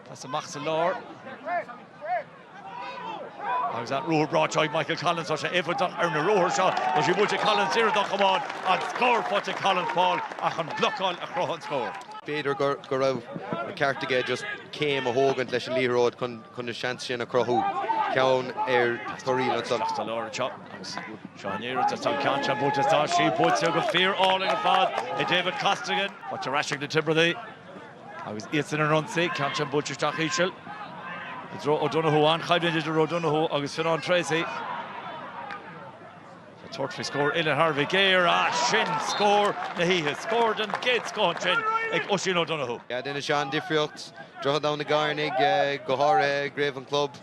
Tá sí amach sa lár. Agus an ruathar breá seo ag Michael Collins, tá sé éifeachtach ar na ruathair seo. Tá sí buailte ag Collins, iarracht dá chamán agus scór faighte ag Collins, Paul ach an blocáil a chruthaigh an scór. B'fhéidir go raibh ceart aige just céim a thógaint leis an liathróid chun an seans sin a chruthú. Ceann ar Thoraí anseo. Isteach sa lár anseo agus seo an iarracht is tá an ceann seo buailte. Tá sí buailte go fíor-álainn ar fad ag David Costigan. Faighte ar ais ag na Tiobradaigh. Agus iadsan ar an ionsaí, ceann sin buailte isteach íseal i dtreo O'Donoghue. An-choimhlint idir O'Donoghue agus Fionán Treacy. Ag tabhairt faoi scór, uillinn thar a bheith géar. Ah, sin scór na hoíche. Scór den gcéad scoth ansin ag Oisín O'Donoghue. Déanann sé an-difríocht. Droichead ann na gCairn ag go háirithe ag craobh an chlub.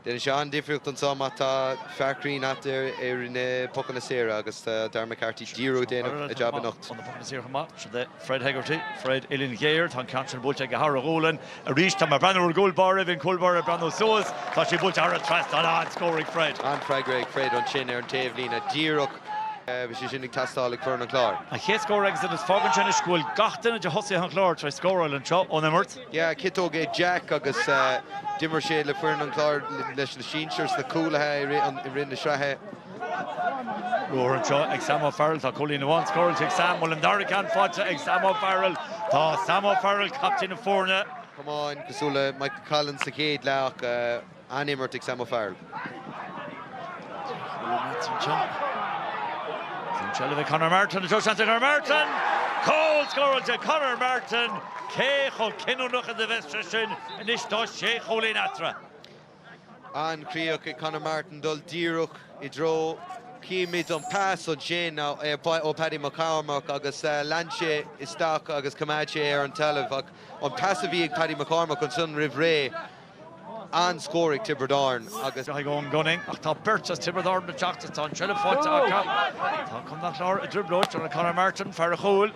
Déanann sé an-difríocht anseo mar tá fear cruinn uait ar na pocanna saora agus tá Darragh McCarthy díreach ag déanamh a jab anocht. Ó na pocanna saora chomh maith, sin é Fred Hegarty, Fred uillinn ghéar. Tá an ceann sin buailte aige thar a ghualainn arís. Tá mé ag breathnú ar an gcúl báire bhí an cúl báire ag breathnú suas. Tá sé buailte thar an trasnán. An-scór ag Fred. An-fhreagra ag Fred ansin ar an taobhlíne díreach. Bhí sé sin ag teastáil ag foireann an Chláir. An chéad scór aigesan agus fágann sin anois go bhfuil gach duine de thosaithe an Chláir tar éis scóráil anseo ón imirt. Yeah, ciotóg é Jack agus d'imir sé le foireann an Chláir leis na sinsir sna cúlaithe i rith na sraithe. Ruathar anseo ag Sam O'Farrell, tá cúilín amháin scóráilte ag Sam, bhfuil an dara ceann faighte ag Sam O'Farrell. Tá Sam O'Farrell, captaen na foirne, camán, cosúil le Michael Collins sa chéad leath ach. an-imirt ag Sam O'Farrell. An tseilbh ag Conor Martin, tá seans ag Conor Martin! Cúl scóráilte ag Conor Martin! Cé chomh cinniúnach is a bheas sé sin anois tá sé chúilín eatarthu? An-chríoch ag Conor Martin dul díreach i dtreo chímid an pas ansin ó Paddy McCormack agus lean sé isteach agus choimeád sé ar an talamh ach an pas a bhí ag Paddy McCormack ansan roimh ré. an-scór ag Tiobraid Árann agus. Ag Eoghan Gunning ach tá beirt as Tiobraid Árann ag teacht is tá an tseilbh faighte acu. Tá an Clár i dtrioblóid, tá Conor Martin, fear an chúil.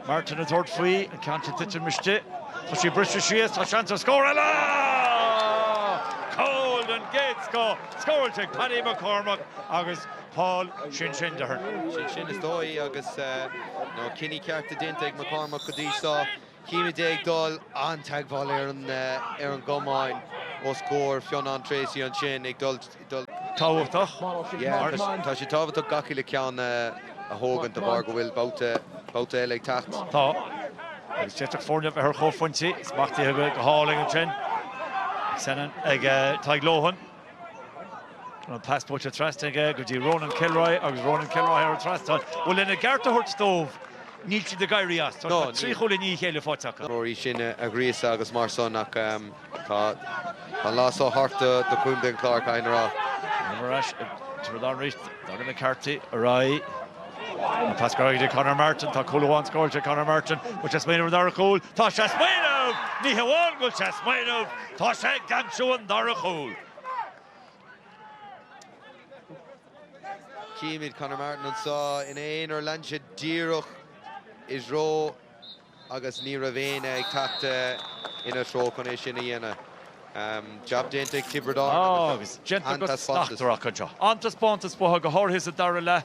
Martin ag tabhairt faoi, an ceann sin ag titim istigh. Tá sí briste síos, tá seans ar scór eile! Cúl den gcéad scoth, scóráilte ag Paddy McCormack agus Paul sin sin déarfainn. Sin sin is dóigh agus, na cinní cearta déanta ag McCormack go dtí seo. Chímid é ag dul an-teagmháil ar an gcamán os comhair Fionán Treacy ansin, ag dul. tábhachtach mar. Tá sé tábhachtach gach uile ceann a thógaint de bharr go bhfuil babhta eile ag teacht. Tá. Agus d'fhéadfadh foirne a bheith ar chomhphointí, smachtaithe go hálainn ansin ag Senan, ag Tadhg Lohan. An pas buailte trasna aige go dtí Ronan Kilroy agus Ronan Kilroy ar an trasnáil. Bhuel, lena gceart a thabhairt dóibh, níl siad ag éirí as. Tá trí chúl i ndiaidh a chéile faighte acu. Rory á ngríosadh agus mar san ach tá an lá seo thart do Chontae an Chláir, caithfear a rá. Ar ais, Tiobraid Árann arís, Doireann McCarthy ar aghaidh. An pas go Conor Martin. Tá cúl amháin scóráilte ag Conor Martin. Bhfuil sé ag smaoineamh ar an dara chúl? Tá sé ag smaoineamh! Ní hamháin go bhfuil sé ag smaoineamh, tá sé ag aimsiú an dara chúl. Címid Conor Martin anseo ina aonar. Lean sé díreach isteach agus ní raibh éinne ag teacht ina treo chun é sin a dhéanamh. Jab déanta ag Tiobraid Árann agus an-taispeántas acu. An-taispeántas uathu, go háirithe sa dara leath.